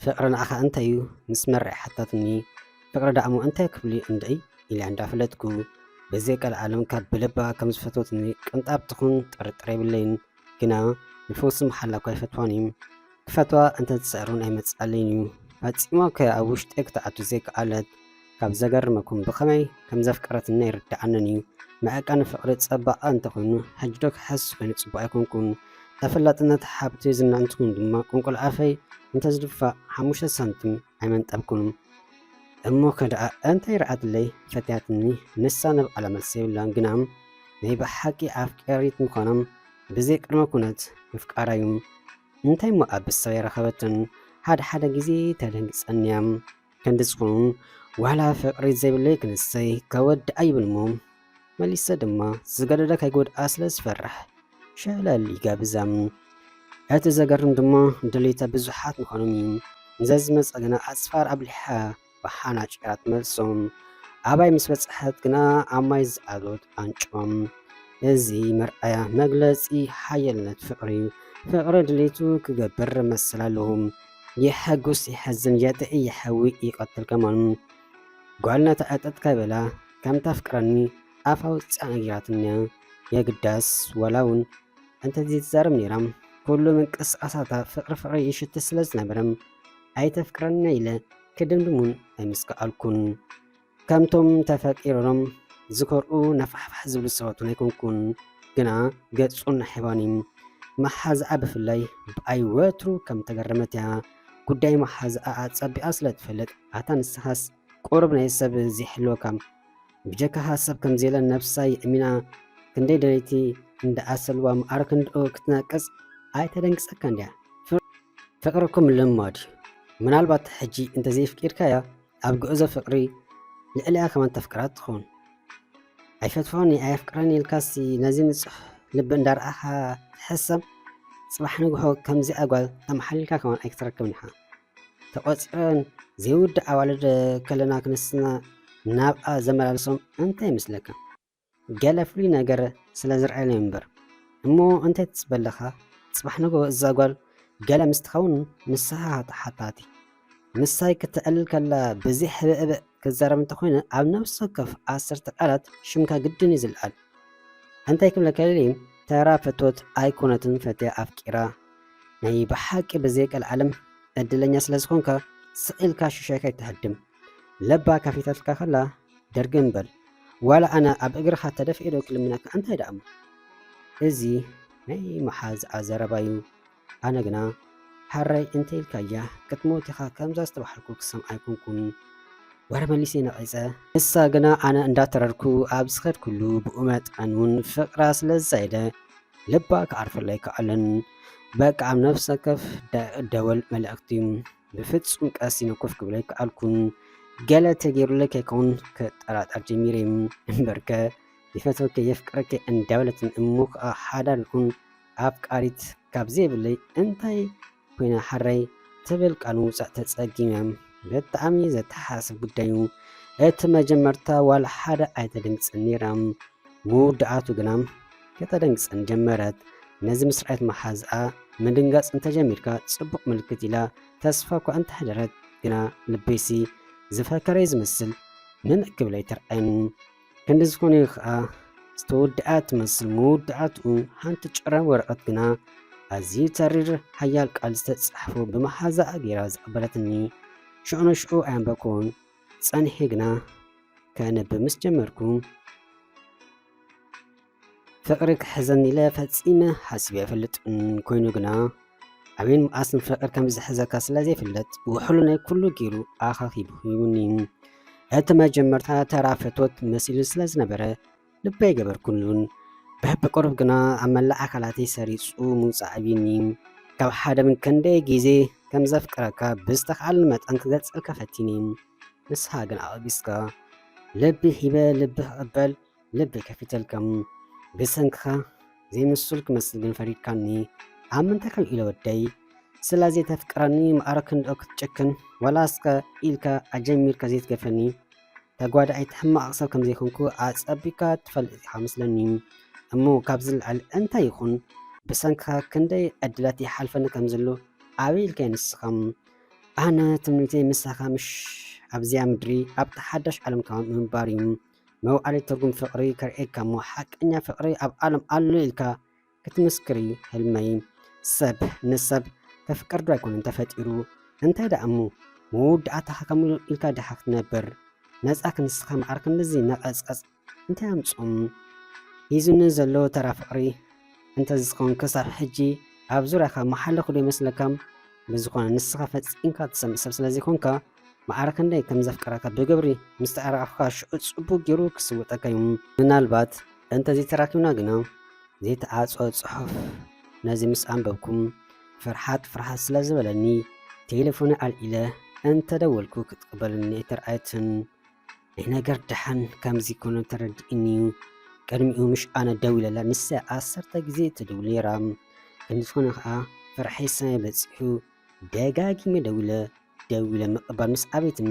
ፍቅሪ ንዓኻ እንታይ እዩ ምስ መርዕ ሓታትኒ ፍቅሪ ዳእሞ እንታይ ክብሉ እንድዒ ኢላ እንዳፈለጥኩ በዘይ ቀልዓለም ካብ ብልባ ከም ዝፈትወትኒ ቅንጣብ ትኹን ጥርጥር የብለይን ግና ንፈውሲ መሓላ እኳ ኣይፈትዋን እዩ። ክፈትዋ እንተ ዝጽዕርን ኣይመጽኣለይን እዩ። ፈጺማ እኳ ኣብ ውሽጠይ ክትኣቱ ዘይከኣለት። ካብ ዘገርመኩም ብኸመይ ከም ዘፍቀረትኒ ኣይርድኣንን እዩ። መዐቀኒ ፍቕሪ ጸባቐ እንተ ኾይኑ ሕጂ ዶ ክሕስ ኮይኑ ጽቡቕ ኣይኮንኩን። ተፈላጥነት፣ ሃብቲ፣ ዝና እንተ ኾይኑ ድማ ቁንቁል ኣፈይ እንተ ዝድፋእ ሓሙሽተ ሳንቲም ኣይመንጠልኩምን እሞ ከድኣ እንታይ ርኣትለይ ፈትያትኒ ንሳ ንብዓላ መልሲ የብላን ግና ናይ ብሓቂ ኣፍቀሪት ምዃናም ብዘይ ቅድመ ኩነት ምፍቃራ እዩ እንታይ እሞ ኣብ ሰብ ኣይረኸበትን ሓደ ሓደ ግዜ ተደንግጸኒ እያ ክንዲ ዝኾኑ ዋላ ፍቅሪ ዘይብለይ ክንሰይ ከወድኣ ይብል እሞ መሊሰ ድማ ዝገደደ ከይጎድኣ ስለ ዝፈርሕ ሸለል ይገብዘም እቲ ዘገርም ድማ ድሌተ ብዙሓት ምዃኖም እዩ ንዘዝመፀ ግና ኣፅፋር ኣብሊሓ ብሓናጭ እያ ትመልሶም ኣባይ ምስ በፅሐት ግና ኣብ ማይ ዝኣሎት ኣንጮም እዚ መርኣያ መግለፂ ሓየልነት ፍቅሪ እዩ ፍቅሪ ድሌቱ ክገብር መሰል ኣለዎም የሐጉስ የሐዝን የጥዒ የሐዊ ይቀትል ከማን ጓልነታ እጠጥ ከበላ ከም ተፍቅረኒ ኣፋ ወጺኣ ነጊራትኒ እያ የግዳስ ዋላ እውን እንተዘይትዛረብ ነይራ ኩሉ ምንቅስቓሳታ ፍቕሪ ፍቕሪ ይሽት ስለ ዝነበረ ኣይተፍቅረኒ ኢለ ክድምድም እውን ኣይምስከኣልኩን። ከምቶም ተፈቂሮም ዝኮርኡ ነፋሕፋሕ ዝብሉ ሰባት እውን ኣይኮንኩን። ግና ገጹ ናሒባኒ መሓዝኣ ብፍላይ ብኣይ ወትሩ ከም ተገረመት እያ ጉዳይ መሓዝኣ ኣጸቢቓ ስለ ትፈልጥ ኣታ ንስኻስ ቁሩብ ናይ ሰብ ዘይሕልወካ ብጀካ ሃሰብ ከምዘየለ ነብሳ የእሚና ክንደይ ደለይቲ እንዳኣሰልዋ ምኣር ክንድኡ ክትናቅጽ ኣይተደንግጸካን ድያ ፍቅርኩም ልማድ እዩ ምናልባት ሕጂ እንተዘይፍቂድካያ ኣብ ጉዕዞ ፍቅሪ ልዕሊኣ ከማን ተፍቅራ ትኸውን ኣይፈትፎን ኣየፍቅረን ኢልካሲ ነዚ ንጹሕ ልቢ እንዳርኣኻ ትሕሰብ ጽባሕ ንግሆ ከምዚኣ ጓል ተማሓሊልካ ከማን ኣይክትረክብን ኢኻ ተቆጺረን ዘይውዳእ ኣዋልድ ከለና ክንስና ናብኣ ዘመላልሶም እንታይ ይመስለካ? ገለ ፍሉይ ነገር ስለ ዝርኣየን እዩ እምበር። እሞ እንታይ ትጽበ ኣለኻ? ጽባሕ ንግሆ እዛ ጓል ገለ ምስ ትኸውን ንስኻ ተሓታቲ። ምሳይ ክትዕልል ከላ ብዘይ ሕብእብእ ክዛረብ እንተኾይነ ኣብ ነፍሲ ወከፍ ዓሰርተ ቃላት ሽምካ ግድን እዩ ዝልዓል። እንታይ ክብለካ ደልየ ተራ ፍትወት ኣይኮነትን ፈትያ ኣፍቂራ ናይ ብሓቂ ብዘይቀልዓለም ዕድለኛ ስለ ዝኾንካ ስቕ ኢልካ ሽሻይ ከይትሃድም ለባ ከፊታትልካ ከላ ድርግም በል ዋላ ኣነ ኣብ እግርኻ ተደፊኤ ዶ ክልምነካ እንታይ ደኣሞ እዚ ናይ መሓዝኣ ዘረባ እዩ ኣነ ግና ሓራይ እንተኢልካያ ክትሞት ኢኻ ከምዛ ዝተባሃልኩ ክሰምዓ ኣይኮንኩን ወረ መሊሰ ነቒፀ ንሳ ግና ኣነ እንዳተረርኩ ኣብ ዝኸድኩሉ ብኡ መጠን እውን ፍቕራ ስለ ዝዛየደ ልባ ክዓርፈሉ ኣይከኣለን። በቃ ኣብ ነፍሲ ወከፍ ደወል መልእኽቲ ብፍጹም ቀስ ኢለ ኮፍ ክብል ኣይከኣልኩን። ገለ ተገይሩለይ ከይከውን ክጠራጠር ጀሚረ እምበርከ ይፈትወኪ የፍቅረኪ እንዳበለትን እሞ ከዓ ሓዳር ይኹን ኣፍቃሪት ካብ ዘይብለይ እንታይ ኮይና ሕረይ ትብል ቃል ምውጻእ ተጸጊመ። ብጣዕሚ ዘተሓሳስብ ጉዳይ'ዩ። እቲ መጀመርታ ዋላ ሓደ ኣይተደንግጸን ነይራ። ምውዳኣቱ ግና ከተደንግጸኒ ጀመረት። ነዚ ምስ ረኣየት መሓዝኣ ምድንጋጽ እንተጀሚርካ ጽቡቕ ምልክት ኢላ ተስፋ'ኳ እንተሕደረት ግና ልበይሲ ዝፈከረ'ዩ ዝመስል ምንዕ ክብለይ ተርኣየኒ። ክንዲ ዝኾነ እዩ ኸኣ ዝተወድኣ ትመስል መወዳእትኡ ሓንቲ ጭራ ወረቐት ግና ኣዝዩ ተሪር ሓያል ቃል ዝተጻሕፎ ብመሓዛኣ ገይራ ዝቐበለትኒ ሽዑ ንሽዑ ኣየንበብኩዎን ጸኒሐ ግና ከንብብ ምስ ጀመርኩ ፍቅሪ ክሕዘኒ ኢለ ፈጺመ ሓሲበ ኣይፈልጥን ኮይኑ ግና ኣበይን መኣስን ፍቅር ከም ዝሕዘካ ስለ ዘይፍለጥ ውሕሉነይ ኩሉ ጌሩ ኣኻኺቡ ሂቡኒ እቲ መጀመርታ ተራ ፍትወት መሲሉ ስለ ዝነበረ ልቢ ኣይገበርኩሉን ብሕብቁርብ ግና ኣብ መላእ ኣካላተይ ሰሪጹ ምውጻእ ኣብዩኒ ካብ ሓደ ምን ክንደይ ግዜ ከም ዘፍቅረካ ብዝተኻኣልን መጠን ክገልጸልካ ፈቲኒ ንስኻ ግን ኣቐቢስካ ልቢ ሂበ ልቢ ክቕበል ልበይ ከፊተልካ'ሞ ብሰንክኻ ዘይምሱል ክመስል ግን ፈሪድካኒ ኣብ ምንታይ ከም ኢለ ወደይ ስለ ዘይተፍቅረኒ ማዕረ ክንድኦ ክትጭክን ዋላ እስከ ኢልካ ኣጀሚርካ ዘይትገፈኒ ተጓዳኣይቲ ሕማቕ ሰብ ከም ዘይኮንኩ ኣጸቢካ ትፈልጥ ኢኻ መስለኒ እሞ ካብ ዝለዓል እንታይ ይኹን ብሰንክኻ ክንደይ ዕድላት ይሓልፈኒ ከም ዘሎ ኣበይ ኢልካ ንስኻ ኣነ ትምኒተይ ምሳኻ ምሽ ኣብዚኣ ምድሪ ኣብታ ሓዳሽ ዓለም ከማን ምንባር እዩ መውዓሊ ትርጉም ፍቅሪ ከርእየካ እሞ ሓቀኛ ፍቅሪ ኣብ ዓለም ኣሎ ኢልካ ክትምስክሪ ህልመይ ሰብ ንሰብ ከፍቅር ዶ ኣይኮነን ተፈጢሩ እንታይ ደኣ እሞ መወዳእታኻ ከምኡ ኢልካ ድሓ ክትነብር ነፃ ክንስኻ መዓር ክንድዚ ነቐፅቐፅ እንታይ ኣምፅኦም ሂዙኒ ዘሎ ተራ ፍቅሪ እንተዝኸውን ክሳብ ሕጂ ኣብ ዙርያኻ መሓለኹ ዶ ይመስለካ ብዝኾነ ንስኻ ፈፂምካ ትሰምዕ ሰብ ስለዘይኮንካ መዓረ ክንደይ ከም ዘፍቅረካ ዶ ገብሪ ምስ ተኣራኣኹካ ሽዑ ጽቡቅ ጌሩ ክስውጠካ ዩ ምናልባት እንተ ዘይተራኪብና ግና ዘይተዓጾ ጽሑፍ ነዚ ምስ ኣንበብኩም ፍርሓት ፍርሓት ስለ ዝበለኒ ቴለፎነይ ኣልዒለ እንተ ደወልኩ ክትቅበለኒ ኣይተርኣየትን ናይ ነገር ደሓን ከምዚ ኮነ ተረዲእኒ ቅድሚኡ ምሽ ኣነ ደዊለላ ንሳ ዓሰርተ ግዜ ትድውል ነይራ እንዝኾነ ከኣ ፍርሐይ ሰማይ በጺሑ ደጋጊመ ደዊለ ደው ኢለ ምቕባል ምስ ኣበየትኒ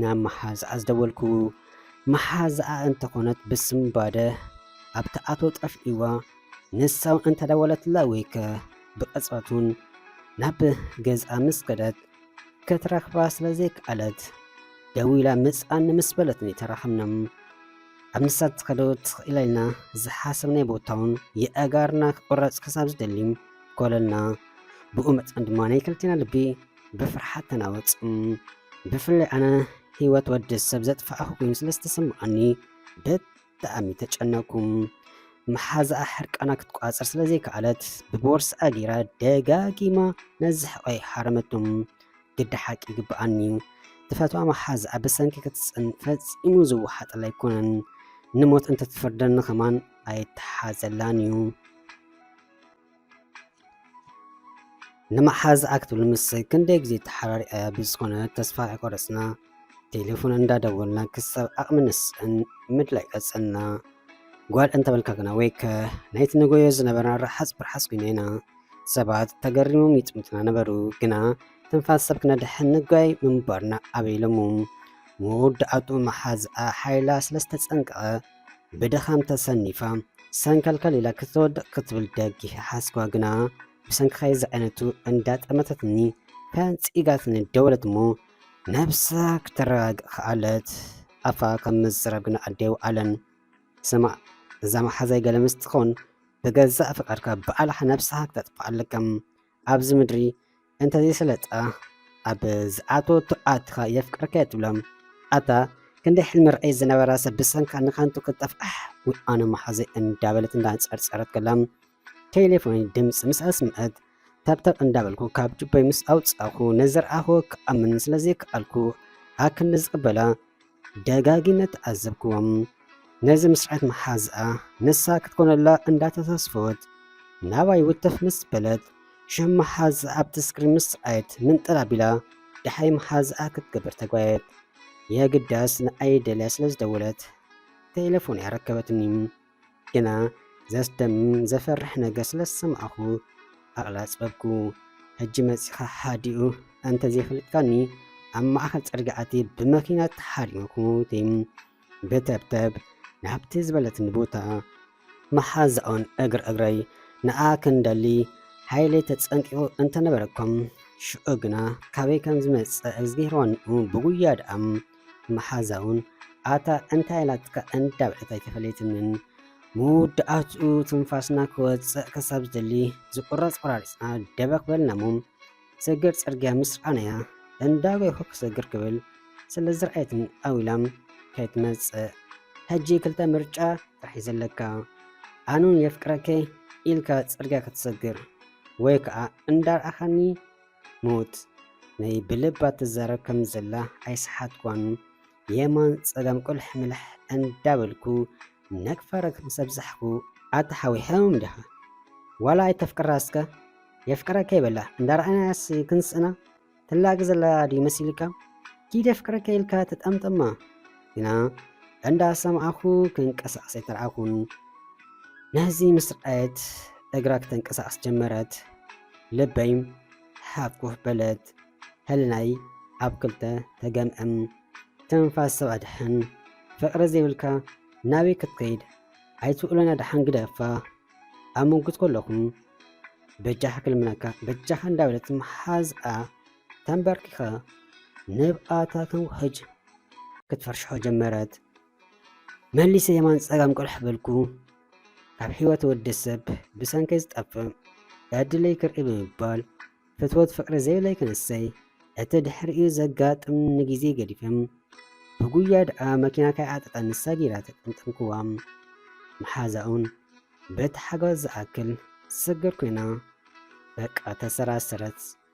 ናብ መሓዝኣ ዝደወልኩ። መሓዝኣ እንተኾነት ብስምባደ ኣብ ትኣቶ ጠፍእዋ ንሳውን እንተደወለትላ ወይከ ብቕጽበቱን ናብ ገዝኣ ምስ ከደት ክትረኽባ ስለ ዘይከኣለት ደው ኢላ ምጻኒ ምስ በለትኒ ተራኸብናም ኣብ ንሳ ትኸዶ ትኽእላ ኢልና ዝሓሰብናይ ቦታውን የእጋርና ክቑረጽ ክሳብ ዝደሊ ኮለና ብኡ መጠን ድማ ናይ ክልቴና ልቢ ብፍርሓት ተናወጽ ብፍላይ ኣነ ህይወት ወዲ ሰብ ዘጥፋእኹ ኮይኑ ስለ ዝተሰማዓኒ ብጣዕሚ ተጨነኩ መሓዛኣ ሕርቃና ክትቋፀር ስለ ዘይከኣለት ብቦርስኣ ገይራ ደጋጊማ ነዚ ሕቐይ ሓረመቶም ግዲ ሓቂ ይግብኣኒ ተፈትዋ መሓዛኣ ብሰንኪ ክትፅን ፈፂሙ ዝወሓጠላ ኣይኮነን ንሞት እንተትፍርደኒ ከማን ኣይተሓዘላን እዩ ንምሓዝ ኣክትብል ምስ ክንደይ ግዜ ተሓራሪያ ብዝኾነ ተስፋ ኣይቆረፅና ቴሌፎን እንዳደወልና ክሳብ ዓቕሚ ንስእን ምድላይ ቀፀልና ጓል እንተበልካ ግና ወይ ከ ናይቲ ንጎዮ ዝነበርና ረሓፅ ብርሓፅ ኮይኑ ኢና ሰባት ተገሪሞም ይጥምትና ነበሩ ግና ትንፋስ ሰብ ክነድሕን ንጓይ ምንባርና ኣበይሎሙ መወዳእቱ መሓዝኣ ሓይላ ስለዝተፀንቀቐ ብድኻም ተሰኒፋ ሰንከልከል ኢላ ክትወድቕ ክትብል ደጊፈ ሓስኳ ግና ብሰንክኸይ ዝዓይነቱ እንዳጠመተትኒ ፈንጺጋትኒ ደወለት እሞ ነብሳ ክትረጋግእ ከኣለት ኣፋ ከም ምዝራብ ግና ኣዴው ኣለን ስማዕ እዛ መሓዛይ ገለ ምስ ትኾን ብገዛእ ፍቃድካ ብኣልሓ ነብስኻ ክተጥፍኣ ኣለካ ኣብዚ ምድሪ እንተዘይሰለጣ ኣብ ዝኣተወቶ ኣትኻ የፍቅረካየ ትብሎም ኣታ ክንደይ ሕልሚ ርዕይ ዝነበራ ሰብ ብሰንካ ንከንቱ ክትጠፍኣሕ ወይ ኣነ መሓዘይ እንዳበለት እንዳንፀርፀረት ከላም ቴሌፎን ድምፂ ምስ ኣስምዐት ታብታብ እንዳበልኩ ካብ ጅቦይ ምስ ኣውፃኹ ንዝረኣኹ ክኣምን ስለዘይከኣልኩ ኣክንዲ ዝቕበላ ደጋጊመ ተዓዘብክዎም። ነዚ ምስረዐት መሓዝኣ ንሳ ክትኮነላ እንዳተተስፈወት ናባይ ውትፍ ምስ በለት ሽም መሓዝኣ ኣብቲ ስክሪን ምስ ረኣየት ምንጥር ኣቢላ ደሓይ መሓዝኣ ክትገብር ተጓየት። የግዳስ ንኣይ ደልያ ስለዝደወለት ተሌፎነይ ኣረከበትኒ። ግና ዘስደምም ዘፈርሕ ነገር ስለ ዝሰማዕኩ ኣቕላጽበብኩ። ሕጂ መጺኻ ሓዲኡ እንተ ዘይፈለጥካኒ ኣብ ማእከል ጽርግያ ኣትየ ብመኪና ተሓሪመ ክመውት ብተብተብ ናብቲ ዝበለትኒ ቦታ መሓዛኦን እግር እግረይ ንኣ ክንደሊ ሓይለይ ተጸንቂቑ እንተነበረኩም ሽዑ ግና ካበይ ከም ዝመጸ እግዝጊሄር ዋንኡ ብጉያ ደኣም መሓዛ እውን ኣታ እንታይ ኣላትካ እንዳበለት ኣይተፈለየትንን። መወዳእትኡ ትንፋስና ክወፅእ ክሳብ ዝደሊ ዝቁረፅ ቆራሪፅና ደበክ በልና እሞ ሰገር ፅርግያ ምስ ረኣናያ እንዳጎይኹ ክሰግር ክብል ስለ ዝረኣየትን ኣዊላም ከይትመፅእ ሕጂ ክልተ ምርጫ ጥራሕ እዩ ዘለካ ኣኑን የፍቅረከ ኢልካ ፅርግያ ክትሰግር ወይ ከዓ እንዳረኣኻኒ ሞት ናይ ብልባ ትዛረብ ከም ዘላ ኣይሰሓትኳን። የማን ጸጋም ቁልሕ ምልሕ እንዳበልኩ ነግፋ ረግፍ ምስ ኣብዛሕኩ። ኣታ ሓወይ ሕሙም ዲኻ ዋላ ኣይተፍቅራ እስከ የፍቅረኪ በላ እንዳረኣናያስ ክንስእና ትላገ ዘላ ድዩ መሲልካ ኪድ የፍቅረኪ ኢልካ ትጠምጥማ። ግና እንዳ ሰማዕኩ ክንቀሳቀስ ኣይተርኣኩን ነዚ ምስ ረኣየት እግራ ክተንቀሳቅስ ጀመረት ልበይ ሃኩፍ በለት ሕልናይ ኣብ ክልተ ተገምዕም ትንፋስ ሰብ ኣድሕን ፍቅሪ ዘይብልካ ናበይ ክትከይድ ኣይትውእሎን ኣድሓን ግደፋ ኣብ ምጉት ከለኹም በጃኻ ክልምነካ በጃኻ እንዳበለት መሓዝኣ ተንበርኪኻ ንብኣታ ተውሕጅ ክትፈርሽሖ ጀመረት። መሊሰ የማን ጸጋም ቅልሕ በልኩ። ካብ ሕይወት ወዲ ሰብ ብሰንከይ ዝጠፍእ በድለይ ክርኢ ብምባል ፍትወት ፍቕሪ ዘይብለይ ክንሰይ እቲ ድሕሪኡ ዘጋጥም ንግዜ ገዲፍም ብጉያ ደኣ መኪና ከይዓጠጠኒ ሰጊራ ተጠምጠምክዋ። መሓዛኡን በቲ ሓጓዝ ዝኣክል ስግር ኮይና በቃ ተሰራሰረት።